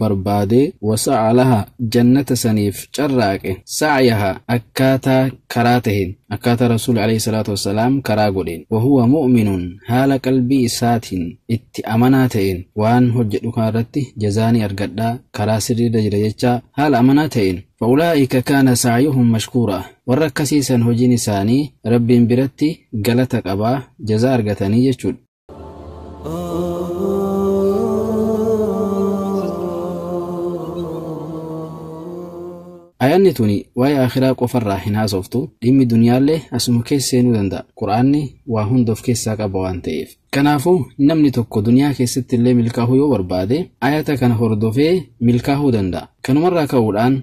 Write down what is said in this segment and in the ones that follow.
barbaade, wasa'a lahaa, jannata saniif carraaqe, sa'yahaa, akkaataa karaa taheen, akkaataa Rasuulli aleyhi salaatu wa salaam karaa godheen, wahuwa mu'minun, haala qalbii isaatiin itti amanaa ta'een, waan hojjadhu kana irratti jazaa ni argadha, karaa sirrii irra jira jechaa haala amanaa ta'een, fa'ulaa'ika kaana sa'yuhum mashkuuraa, warra akkasii san hojiin isaanii Rabbiin biratti galata qaba, jazaa argatanii jechuudha. Ayaanni tuni waa'ee akhiraa qofarraa hin haasoftu dhimmi duniyaallee asuma keessa seenuu danda'a. Qur'aanni waa hunda of keessaa qaba waan ta'eef. Kanaafuu namni tokko duniyaa keessatti illee milkaahuu yoo barbaade ayata kana hordofee milkaahuu danda'a. Kanumarraa ka'uudhaan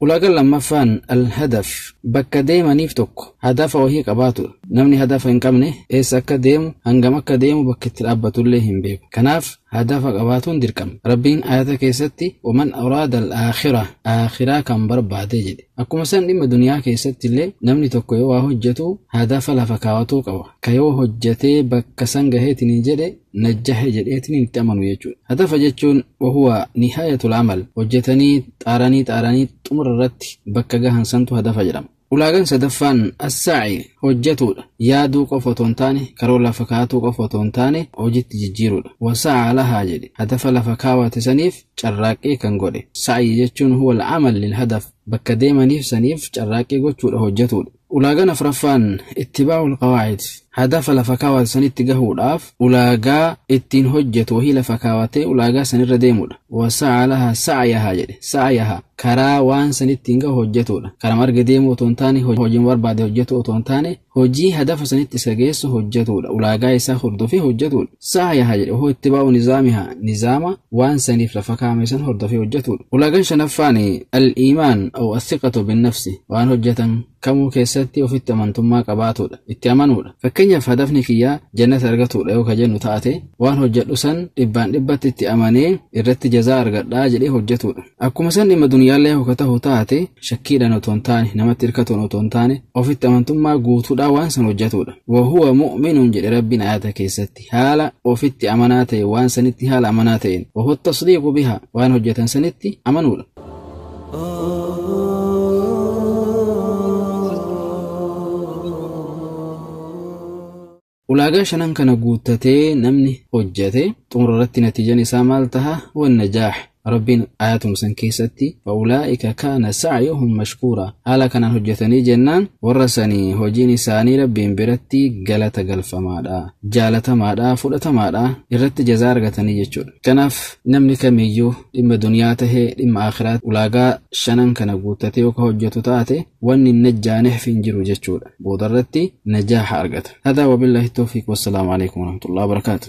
Ulaagaan lammaffaan, Al-Hadaf, bakka deemaniif tokko hadafa wahii qabaatudha. Namni hadafa hin qabne eessa akka deemu, hangam akka deemu, bakka itti dhaabbatullee hin beeku. Kanaaf hadafa qabaatuun dirqama. Rabbiin aayata keessatti waman araada al-aakhira, aakhiraa kan barbaade jedhe. Akkuma san dhimma duniyaa keessattillee namni tokko yoo waa hojjetu hadafa lafa kaawatuu qaba. Ka yoo hojjetee bakka san gaheetiin jedhe najjahe jedheetiin itti amanu jechuudha. Hatafa jechuun wahuwa nihayatul amal hojjetanii xaaranii xaaranii xumura irratti bakka gahan santu hadafa jedhama. Ulaagan sadaffaan assaa'i hojjetuudha. Yaaduu qofa otoo hin taane karoo lafa kaatuu qofa otoo hin taane hojitti jijjiiruudha. Wasa'a lahaa jedhe hadafa lafa kaawate saniif carraaqqii kan godhe. Sa'yi jechuun huwal amal lil hadaf bakka deemaniif saniif carraaqqii gochuudha hojjetuudha. Ulaagaan afraffaan ittibaa'ul qawaa'id, hadafa lafa kaawate sanitti gahuudhaaf ulaagaa ittiin hojjatu wahii lafa kaawatee ulaagaa sanirra deemuudha. Wasa'a lahaa sa'yahaa jedhe. Sa'yahaa, karaa waan san ittiin gahu hojjatuudha. Karama arge deemuu otoo hin taane, hojiima barbaade hojjatuu otoo hin taane, hojii hadafa sanitti isa geessu hojjatuudha. Ulaagaa isaa hordofee hojjatuudha. Sa'yaha jedhe hoo ittibaa'u nizaamiha nizaama waan saniif lafa kaa'ame san hordofee hojjatuudha. Ulaagan shanaffaan al-iimaan aw athiqatu binnafsi waan hojjatan kamuu keessatti ofitti amantummaa qabaatuudha, itti amanuudha. Fakkeenyaaf hadafni kiyya jannata argatuudha yoo ka jennu taate waan hojjadhu san dhibbaan dhibbatti itti amanee irratti jazaa argadha jedhee hojjatuudha. Akkuma san dhimma dunyaallee hoo ka tahu taate, shakkiidhaan otoo hin taane, namatti irkatuun otoo hin taane, ofitti amantummaa guutuudhaan waan san hojjatuudha. Wa huwa mu'minun jedhe Rabbiin aayata keessatti, haala ofitti amanaa ta'een, waan sanitti haala amanaa ta'een. Wa huwa at-tasdiiqu bihaa, waan hojjatan sanitti amanuudha. Ulaagaa shanan kana guuttatee namni hojjate xumura irratti natiijan isaa maal taha? Wannajaah. Rabbiin aayatuma san keessatti fa'ulaa'ika kaana sa'yuhum mashkuuraa haala kanaan hojjatanii jennaan warra sani hojiin isaanii Rabbiin biratti galata galfamaadha, jaalatamaadha, fudhatamaadha, irratti jazaa argatanii jechuudha. Kanaaf namni kamiyyuu dhimma duniyaa tahe dhimma aakhiraatti ulaagaa shanan kana guuttatee yoo ka hojjatu taate wanni hin najjaanehf hin jiru jechuudha boodarratti najaaha argata hadaa wabillahi tawfiiq wassalaamu alaikum warahmatullahi wabarakaatu